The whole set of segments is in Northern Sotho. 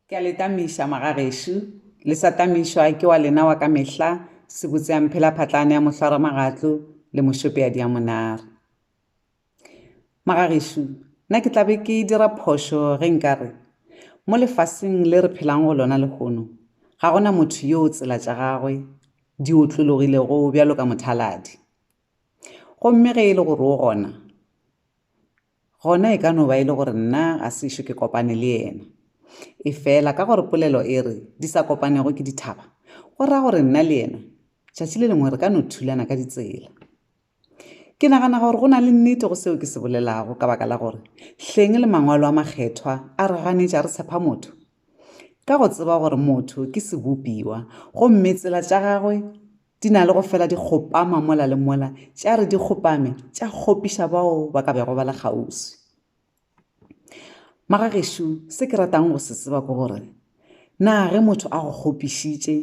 Ke a le tamiša, magagešo, le sa tamišwa ke wa lena wa ka mehla, sebotse ya mphelaphatlane ya mohlwaramagatlo le mošope ya diamonare. Magagešo, na ke tla be ke dira phošo ge nka re, mo lefaseng le re phelago go lona lehono, ga go na motho yoo tsela tša gagwe di otlologilego bjalo ka mothaladi? Gomme ge e le gore o gona, Gona e ka no ba e le gore nna ga se ešo ke kopane le yena. Efela ka gore polelo e re, Di sa kopanego ke dithaba, go ra gore nna le yena tšatši le lengwe re ka no thulana ka ditsela. Ke nagana gore go na le nnete go seo ke se bolelago ka baka la gore hleng le Mangwalo a Makgethwa a re ganetša re tshepa motho? Ka go tseba gore motho ke sebopiwa gomme tsela tša gagwe Di na le go fela di kgopama mola le mola, tša re di kgopame tša kgopiša bao ba ka bego ba le kgauswi. Magagešo, se ke ratang go se tseba ke gore, na ge motho a go kgopišitše,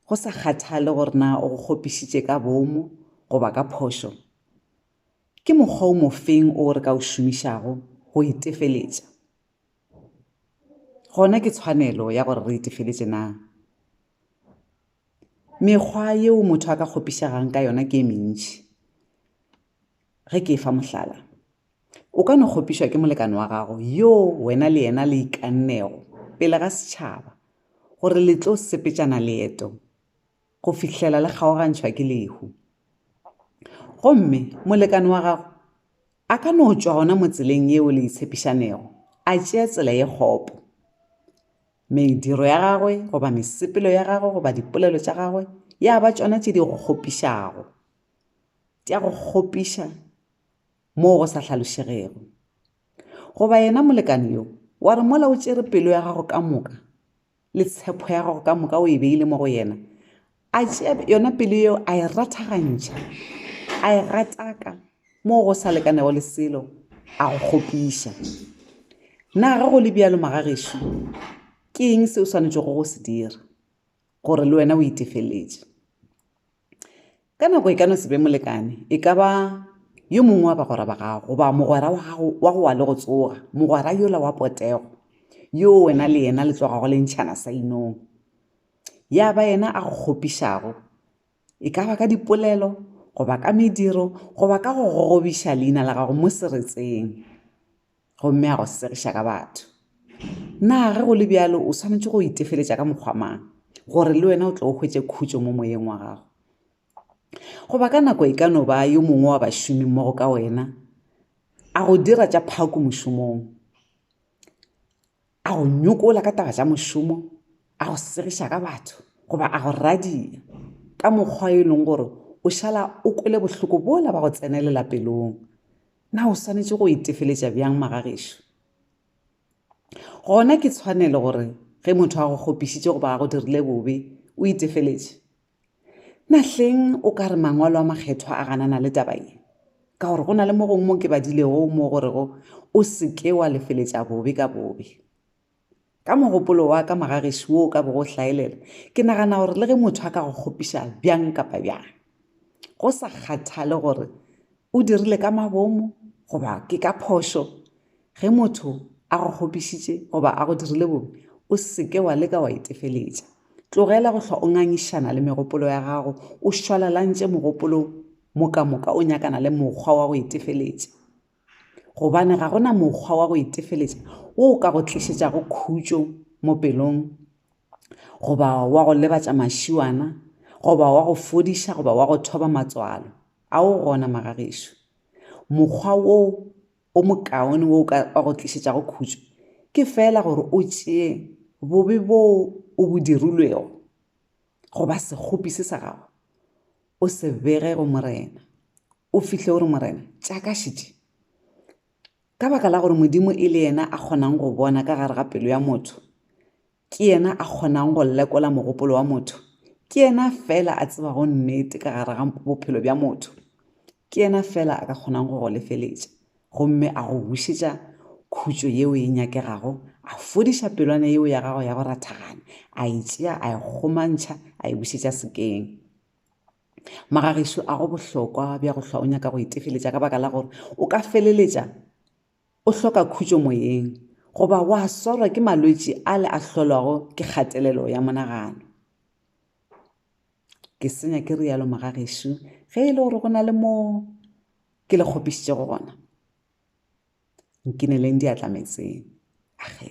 go sa kgathale gore na o go kgopišitše ka boomo goba ka phošo, ke mokgwa o mofeng o re ka o šomišago go itefeletša? Gona ke tshwanelo ya gore re itefeletše na? Mekgwa yeo motho a ka kgopišagang ka yona ke e mentši. Ge ke e fa mohlala, o ka no kgopišwa ke molekane wa gago yo wena le yena le ikannego pele ga setšhaba gore le tlo sepetšana leeto go fihlela le kgaogantšhwa ke lehu. Gomme molekane wa gago a ka no tšwa gona mo tseleng yeo le itshepišanego a tšea tsela ye kgopo. Mediro ya gagwe goba mesepelo ya gagwe goba dipolelo tša gagwe ya ba tšona tše di go kgopišago, tša go kgopiša moo go sa hlalošegego. Goba yena molekane yo, wa re mola o tšere pelo ya gago ka moka le tshepo ya gago ka moka o e beile mo go yena, a tšea yona pelo yeo a e rathagantšha a e gataka moo go sa lekanego le selo a go kgopiša na ge go le bjalo magagešo ke eng se o swanetšego go se dira gore le wena o itefeletše ka nako e ka no se be molekane e ka ba yo mongwe wa bagwera ba gago goba mogwera wa gago wa go wa le go tsoga mogwera yola wa potego yo wena le yena le tlogago le ntšhana sa inong ya ba yena a go kgopišago, e ka ba ka dipolelo goba ka mediro goba ka go gogobiša leina la gago mo seretseng gomme a go segiša ka batho. Na ge go le bjalo o swanetše go itefeletša ka mokgwa mang gore le wena o tle o hwetše khutšo mo moyeng wa gago? Goba ka nako e ka no ba yo mongwe wa bašomimmogo ka wena a go dira tša phako mošomong. A go nyokola ka taba tša mošomo? A go segiša ka batho? Goba a go radia ka mokgwa yo e leng gore o šala o kwele bohloko bola ba go tsenelela pelong? Na o swanetše go itefeletša bjang magagešo? Gona ke tshwanelo gore ge motho a go kgopišitše goba a go dirile bobe o itefeletše? Nahleng o ka re Mangwalo a Makgethwa a ganana le taba ye? Ka gore go na le mo gongwe mo ke badilego mo go rego, O se ke wa lefeletša bobe ka bobe. Ka mogopolo wa ka mogagešo wo o ka bego o hlaelela, ke nagana gore le ge motho a ka go kgopiša bjang kapa bjang, go sa kgathale gore o dirile ka mabomo goba ke ka phošo, Ge motho a go kgopišitše goba a go dirile bobe, o se ke wa leka wa itefeletša. Tlogela go hlwa o ngangišana le megopolo ya gago, o šwalalantše mogopolo mo ka moka o nyakana le mokgwa wa go itefeletša. Gobane ga go na mokgwa wa go itefeletša wo o ka go tlišetšago khutšo mo pelong goba wa go lebatša mašiwana goba wa go fodiša goba wa go thoba matswalo, a o gona magagešo? Mokgwa wo o mokaone wo o ka go tlišetšago khutšo ke feela gore o tšee bobe boo o bo dirilwego goba sekgopi se sa gago o se bege go Morena, o fihle o re, Morena, tšakašitše. Ka baka la gore Modimo e le yena a kgonang go bona ka gare ga pelo ya motho, Ke yena a kgonago go lekola mogopolo wa motho. Ke yena fela a tsebago nnete ka gare ga bophelo bja motho. Ke yena fela a ka kgonago go go lefeletša gomme a go bušetša khutšo yeo e nyakegago, a fodiša pelwana yeo ya gago ya go rathagana, a e tšea a e kgomantšha a e bušetša sekeng. Magagešu a go bohlokwa bja go hlwa o nyaka go itefeletša ka baka la gore o ka feleletša o hloka khutšo moyeng goba wa swarwa ke malwetši ale a hlolwago ke kgatelelo ya monagano. Ke senya ke rialo mogagešu ge e le gore go na le moo ke le kgopišitše gona. Nkineleng diatla metseng. Axe.